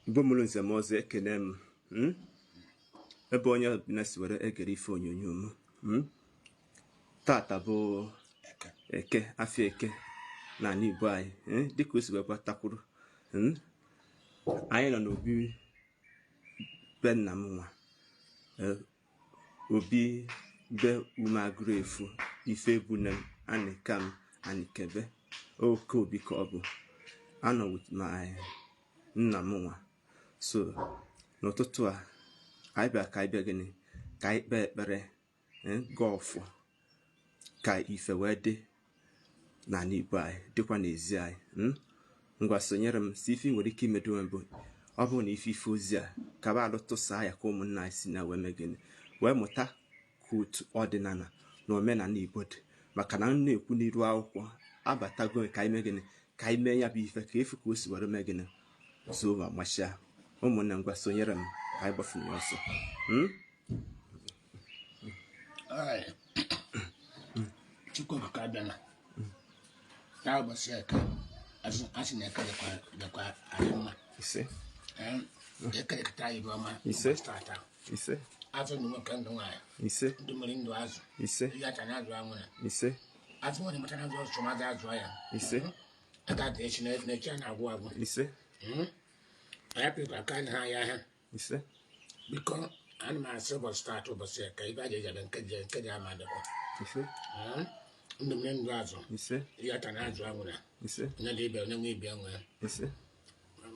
Igbo mụrụ nze mụọ ọzọ ekene m hmm? ebe onye ọbụla si were egere ife onyonyo m hmm? tata bụ eke afịa eke n'anị Igbo anyị hmm? dịka o si wee gbata kwụrụ anyị nọ n'obi be nna m nwa e, obi be umagụrụ efu ife ebune m Anịkam Anịkebe oke obi ka ọ bụ anọ with my nna m nwa so n'ụtụtụ a anyị bịa ka anyị bịa gịnị ka anyị kpee ekpere eh, gọọ ọfọ ka ife wee dị n'anị Igbo anyị dịkwa n'ezi anyị hmm? ngwa sonyere m sọ ife i nwere ike imedo m bụ ọ bụrụ na ị fụ ife ozi a kaba alụ tụsaa ya ka ụmụnna anyị si na ya wee mee gịnị wee mụta ka otu ọdịnanị na omenanị Igbo dị maka na m na-ekwu n'iru akwụkwọ abatago ka anyị mee gịnị ka anyị mee ya bụ ife ka e fụ ka o si were mee gịnị zụwa machia ụmụnne ngwa sonyere m ka anyị gbafere ọsọ hmm? Chukwu Okike Abịama na ụbọchị eke asị na eke dịkwa anyị mma ise eke dịkọta anyị ife ọma ise tata ise a chọ ndụ nwoke ndụ nwaanyị ise ndụ mmiri ndụ azụ ise iyi atana azụ anwụna ise asị onye mụta nwa zụcha nwa azụa ya ise a ga-adị echi na echi a na-agwụ agwụ ise anyị pịrịkwa aka anyị ha ya ahịa ise biko ana m asị ụbọchị taata ụbọchị eke aja ejabe nke ọjọọ ama dịkwa ise Ee, ndụ mmiri ndụ azụ ise iyi atana azụ anwụna ise onye nọ ibe anọ onye nwe ibe enwe ise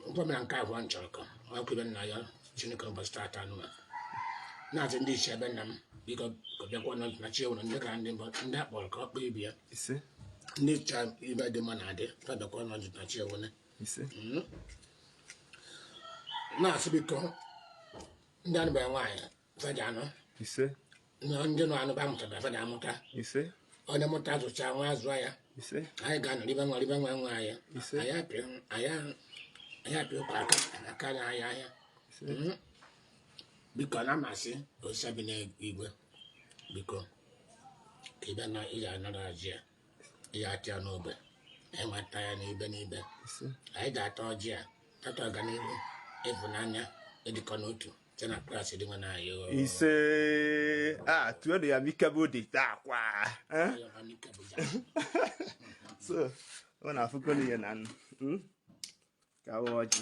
ngwa mere nke abụọ m chọrọ ka ọkụ ibe nna ya chineke ụbọchị taata ana m asị ndị ichie be nna m biko fa bịakwa na na chi ewere ndị egede ndị mbụ ndị a kpọrọ ka ọ kpọọ ibe ya ise ndị chọrọ ife dị mma na adị fa bịakwa na na chi ewere ise na m asị biko ndị anụberọ nwaanyị fa ja-anụ ise ndị nụ anụ ba amụtarọ fa ja-amụta ise onye mụta zụcha nwa azụa ya ise anyị ga-anọ ribe nwa ribe nwa nwa ya ise anyị apịa ụkwa aka aka na ahịa ahịa hmm? biko na m asị Osa bi n'igwe biko ka ị bịa na ị ja-anara ọjị a ya ata ya n'ogbe anyị nwa ata ya n'ibe n'ibe anyị ga-ata ọjị a tata ọganiru ịfụnanya ịdịkọ n'otu site na Kraịst dinwenụ anyị ise a tuenu ya mike bụ dị taa kwa so ọ na-afụkọ n'ihe na nnu hmm? ka ọjị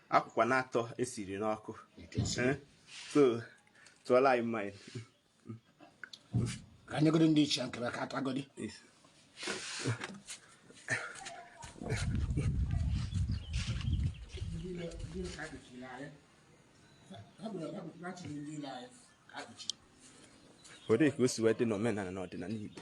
akwụkwa na atọ esiri n'ọkụ eh? so tụọla anyị mmanya ka anyị godo ndị ichie nke be ka atụ agodi ọ dị ka o si wee dị n'omenala na ọdịnala Igbo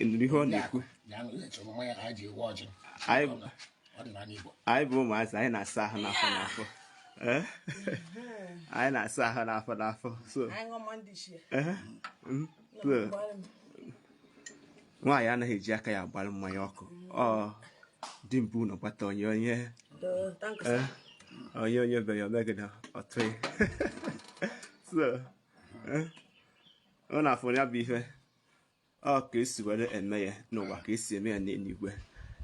ị nụrụ ihe ọ na-ekwu anyị bụ ụmụazị anyị na-asa ahụ n'afọ n'afọ eh? anyị na-asa ahụ n'afọ n'afọ so eh? hmm? nwaanyị anaghị eji aka ya agbara mmanya ọkụ ọ dị mbụ na gbata onye onye eh? onye onye be ya omegide ọtụ so ọ na-afụ ya bụ ihe ọ ka esi were eme ya n'ụwa ka esi eme ya n'eluigwe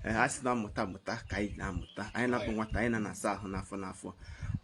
a sị na mmụta mụta ka anyị na-amụta anyị nwa bụ nwata anyị na-asa ahụ n'afọ n'afọ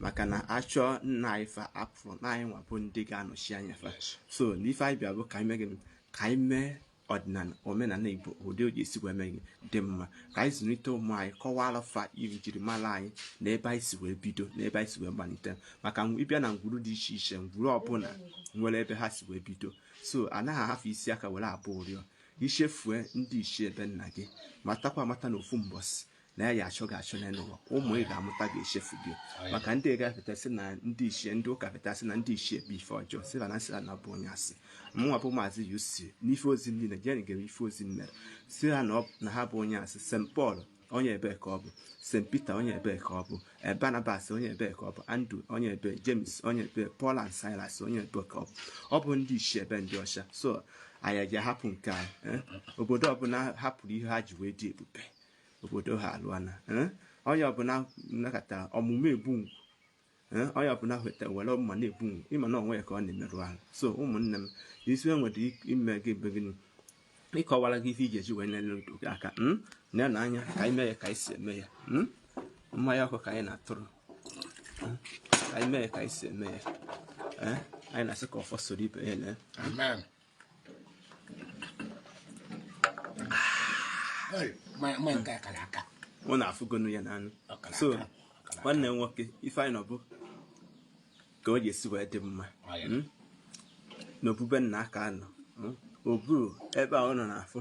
maka na a chọọ nna anyị fa afụrọ na anyị nwa bụ ndị ga-anọchi anya fa so na ife anyị bịa bụ ka anyị mee gịnị ka anyị mee ọdịnala omenala igbo ụdị o ji esi wee mee gị dị mma ka anyị zụlite ụmụ anyị kọwara fa iri njirimara anyị na ebe anyị si wee bido na ebe anyị si wee malite maka ị bịa na ngwuru dị iche iche ngwuru ọbụla nwere ebe ha si wee bido so anaghị ahafụ isi aka were agba ụrịọ i chefue ndị ichie be nna gị matakwa amata na ofu mbọsị na a ya-achọ gị achọ n'elu ụwa ụmụ ị ga-amụta ga-echefu gị maka ndị ga-apụta sị na ndị ichie ndị ụka pụta sị na ndị ichie bụ ife ọjọọ sị na sị na bụ onye asị mụnwa bụ maazị UC n'ife ozi m niile jeni gere ife ozi m mere sị ha na ha bụ onye asị St Paul onye ebee ka ọ bụ st peter onye ebee ka ọ bụ eh, barnabas onye ebee ka ọ bụ andrew onye ebee james onye ebee paul and silas onye ebee ka ọ bụ ọ bụ ndị ichie be ndị ọcha so anyị ja-ahapụ nke anyị eh? obodo ọbụla hapụrụ ihe ha ji wee dị ebube obodo ha alụana eh? onye ọbụla nakọtara ọmụmụ egbu ngwu Eh, onye ọbụla hụta were mma na-egbu ị ma na onwe ya ka ọ na-emerụ ahụ so ụmụnne m isi e nwere ime gị bụ gịnị ịkọwara gị ife ị ja-eji wee nyere ndụ gị aka hmm? na na anya ka anyị mee ya ka anyị si eme ya hmm? mmanya ọkụ ka anyị na-atụrụ hmm? ka anyị mee ya ka anyị si eme ya eh? anyị na-asị ka ọfọ soro ibe ya unu afụgonu ya n'anụ so nwanne m nwoke ife anyị nọ bụ ka o ji esi wee dị mma hmm? n'obu be nna ka a nọ hmm? obu ebe a unu na-afụ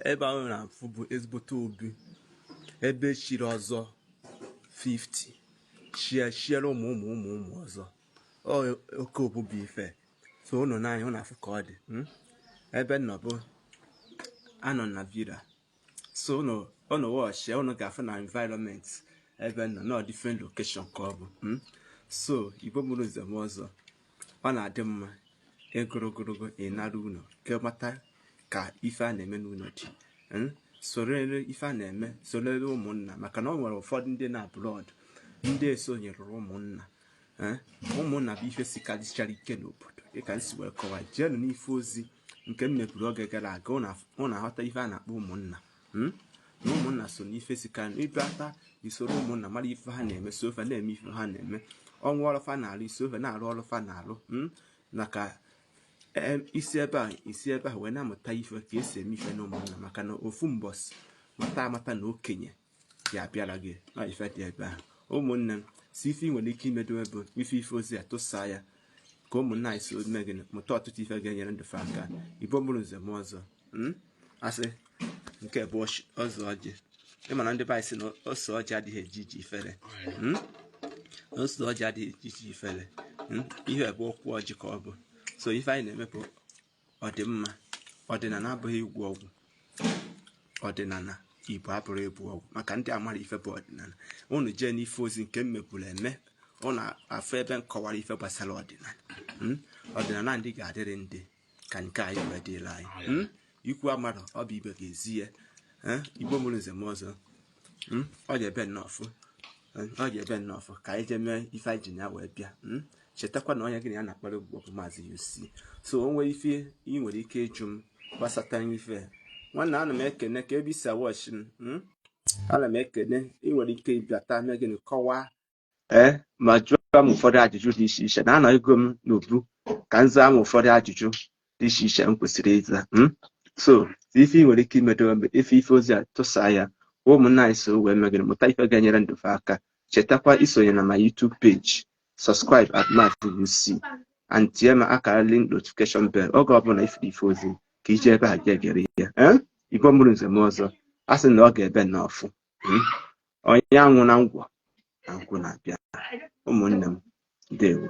ebe a unu na-afụ bụ ezigbote obi ebe chiri ọzọ 50 chie chiere ụmụ ụmụ ụmụ ụmụ ọzọ oke obubu ife so unu nee anya unu afụ ka ọ dị hmm? ebe m nọ ugbu a nọ na villa so unu unu watch ya unu ga-afụ na environment ebe m nọ na different location ka ọ bụ hmm? so igbo mụrụ nze mụọ ọzọ ọ na-adị mma ịgụrụ ogologo ịnara ụlọ ka ị mata ka ife a na-eme n'ụlọ dị hmm? sorere ife a na-eme sorere ụmụnna maka na ọ nwere ụfọdụ ndị nọ abroad ndị esonyerọ ụmụnna ụmụnna bụ ife sikarịchara ike n'obodo dịka m si wee kọwa jeenụ n'ife ozi nke m meburu oge gara aga unu aghọta ife a na-akpọ ụmụnna hmm? na ụmụnna so n'ife sika ị bata i soro ụmụnna mara ife ha na-eme so fa na-eme ife ha na-eme o nwee ọlụ fa na-alụ i so fa na-arụ ọlụ fa na-alụ hmm? maka i si ebe a i si ebe a wee na-amụta ife ka e si eme ife na ụmụnna maka na ofu mbọsị ị mata amata na okenye ya abịara gị na ife dị ebe ahụ ụmụnne m so ife ị nwere ike imedo bụ ị fụ ife ozi a tụsaa ya ka ụmụnna anyị so mee gịnị mụta ọtụtụ ife ga-enyere ndụ fa aka igbo mụrụ nze mụọ ọzọ hmm? a sị nke a bụ ose ọjị ị ma na ndị be anyị sị na ose ọjị adịghị eje ije ifere hmm? ose ọjị adịghị eje ije ifere hmm? ihe bụ okwu ọjị ka ọ bụ so ife anyị na-eme bụ ọdịmma ọdịnala abụghị ịgwọ ọgwụ ọdịnala igbo abụrọ ịgwọ ọgwụ maka ndị amarọ ife bụ ọdịnala unu jee n'ife ozi nke m meburu eme unu afụ ebe m kọwara ife gbasara ọdịnala hmm? ọdịnala ndị ga-adịrị ndị ka nke anyị wee dịrị anyị hmm? ikwu amarọ ọ bụ ibe ga-ezi ya eh? igbo mụrụ nze mụọ ọzọ hmm? ọ ga-ebe nnọọ fụ hmm? ọ ga-ebe nnọọ fụ ka anyị jee mee ife anyị ji na ya wee bịa hmm? chetakwa na onye gị na ya na-akpara ugbu bụ maazị UC so o nwere ife ị nwere ike ịjụ m gbasata ife nwanna ana m ekene ka ebe i si a-watch m ana m ekene ị nwere ike ịbịata mee gịnị kọwaa ee eh, ma jụọ m ụfọdụ ajụjụ dị iche iche na anọgo m n'obu ka m zaa m ụfọdụ ajụjụ dị iche iche m kwesịrị ịza hmm? so ife ị nwere ike imedo ị fụ ife ozi a tụsa ya ụmụnna anyị so wee mee gịnị mụta ife ga-enyere ndụ fa aka chetakwa isonye na my YouTube page subscribe at Maazị UC and tie m aka na link notification bell oge ọbụla ị fụrụ ife ozi ka i jee ebe a ga-egere ya eh? igbo mụrụ nze mụọ ọzọ a sị na ọ ga-ebe na ọfụ hmm? onye anwụna ngwọ na nkwụ na-abịa ụmụnne m ndewo